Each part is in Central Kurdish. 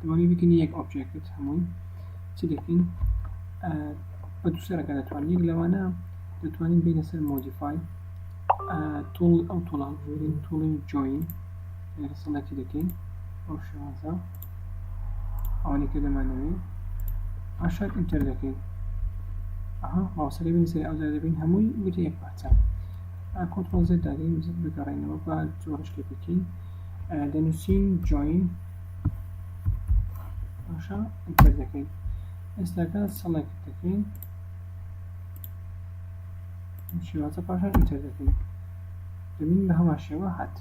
دەبانی بکەین یەک ئۆبجێکت هەمووی چی دەکەین بە دووسەرەکە دەتوانین یەک لەوانە دەتوانین بینە سەر مۆدیفای تۆڵ ئەو تۆڵان بگرین تۆڵین جوین لێرە سەڵەتی دەکەین ئەو شێوازە ئەوانەی کە دەمانەوێ ئاشار ئینتەر دەکەین ئەها باوسەری بین سەر ئەودا دەبین هەمووی وتە یەک پارچە کۆنترۆڵ زێت دادەین بگەڕێنەوە بە جۆرشکە بکەین دەنووسین جوین باشە ئینتەر دەکەین ئێستاکە سەڵێکت دەکەین شێوازە پاشان ئینتەر دەکەین دەبین بە هەمان شێوە هات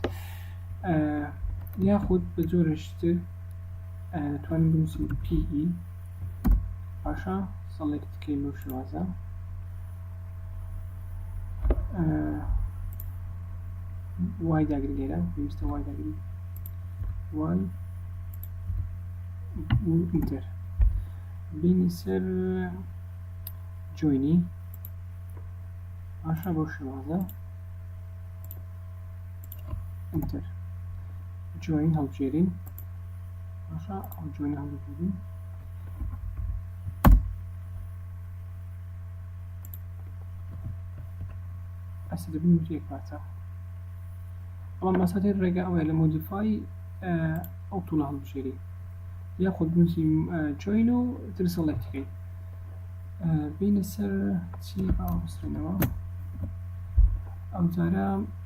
یاخود بە جۆرەشتر توانین بنووسین پیئی باشە سەڵێکت کەین بەو شێوازە وای داگری لێرە پێویستە وای داگری وای ئینتەر بینی سەر جوینی باشە بەو شێوازە ئەنتەر جوین هەڵبژێرین باشە ئەو جوین هەڵبژێرین ئەسە دەبین یەک پارچە ئەڵام مەسەدی ڕێگە ئەوەیە لە مۆدیفای ئەو توڵە هەڵبژێری یاخود بنووسی جوین و ترسەڵێکەکەی بینە سەر چی باوەستێنەوە ئەو جارە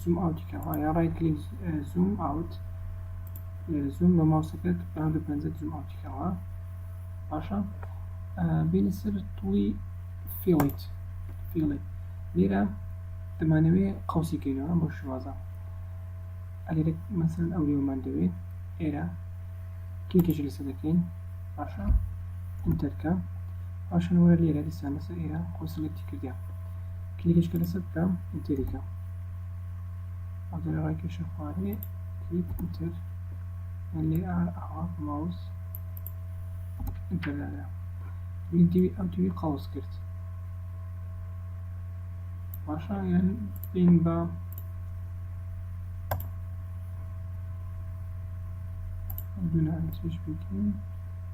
زووم ئاوتی کە وایە ڕای کلیک زووم ئاوت زووم بە ماوسەکەت بە هەردوو پەنجەت زووم ئاوتی کەوە باشە بینە سەر توڵی فیڵیت فیڵی لێرە دەمانەوێ قوسی کەینەوە بۆ شوازە ئەلێرە مەسەن ئەو لێومان دەوێت ئێرە کلیکێکی لەسەر دەکەین باشە ئینتەرکە پاشان وەرە لێرە دیسان لەسەر ئێرە خۆ سلێکتی کردیان کلیکەشکە لەسەر بکەم ئینتەری کەم ئەو جارە ڕای کێشە خوارێ کلیک ئینتەر یان لێ ئار ئاوا ماوس ئینتەر دانرا ببین دیوی ئەم دیوی قەوس کرد باشە یان بین بە دوو نانسیش بکەین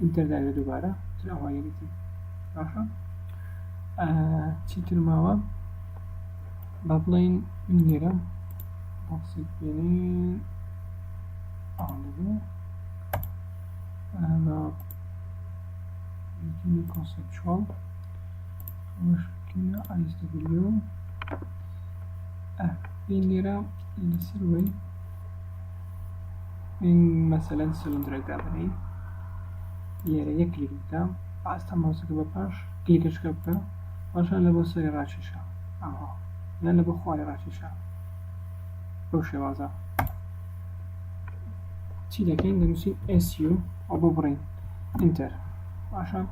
ئینتەر داوێ دووبارە تر ئەوە یەریتی باشە چیتر ماوە با بڵین من لێرە بۆکسێک بێنین ئەوە لەبێ ئەمە یەکینی کۆنسپچوەڵ خۆشکینە ئایستەبیلیۆ بین لێرە لەسەر وەی مەسەلەن سلندرێک دابنێی لێرە یەک کلیک بکە ئاستە مۆزەکە بە پاش کلیکەشکە بکە پاشان لە بۆ سەری ڕاکێشە ئەوە یان لە بۆ خواری ڕاکێشە بەو شێوازە چی دەکەین دەنووسین ئەسیو ئەو بۆ بڕین ئینتەر پاشان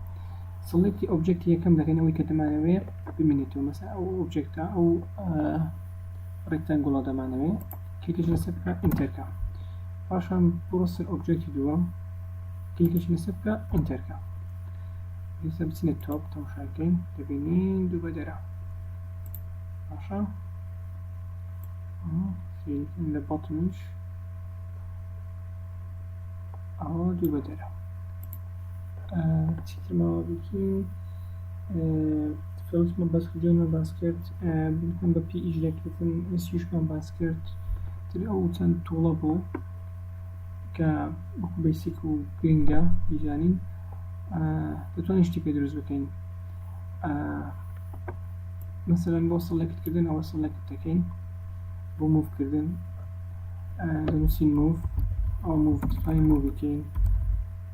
سڵێکی ئۆبجێکتی یەکەم دەکەنەوەی کە دەمانەوەێ ببینێتەوە مەسا ئەو ئۆبجێکتە ئەو ڕێکتەنگوڵە دەمانەوێت کلیکش لەسەر بکە ئینتەر کە پاشان بڕۆ سەر ئۆبجێکتی دووەم کلیکش لەسەر بکە ئینتەر کە ئێستا بچینە تۆپ تەماشا بکەین دەبینین دوو بەدەرە باشە سیرکن لە بەڵتمیش ئەوە دوو بەدەرە چیترماوە بکین کەوتمە بەس ڤیدیۆمان باس کرد بنکەم بە پێ ئیش دەکردن ئەسیشمان باس کرد تر ئەو چەند توڵە بوو کە وەکو بەسیک و گرنگە بیزانین دەتوانین شتی پێ دروست بکەین مەسەرەن بۆ سەڵێکردن ئەوە سەڵێک دەکەین بۆ موفکردن دەنووسین موف ئەو موف دەتوانین موو بکەین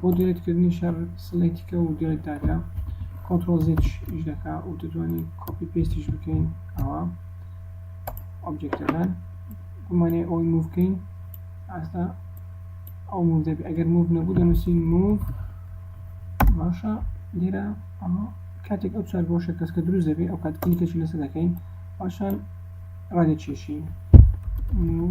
بۆ دەرێت کردنی شەر سڵێتیکە و دەرێت داکە کۆنترۆل زیش دەکا و دەتوانین کۆپی پێستیش بکەین ئەوە ئۆبجێکتەکان گومانێ ئەوی موو بکەین ئاستا ئەو موو دەبێت ئەگەر موو نەبوو دەنووسین موو باشە لێرە ئەمە کاتێک ئەو چوار گۆشە کەسکە دروست دەبێت ئەو کات کلیکەشی لەسەر دەکەین پاشان ڕادێکێشین موو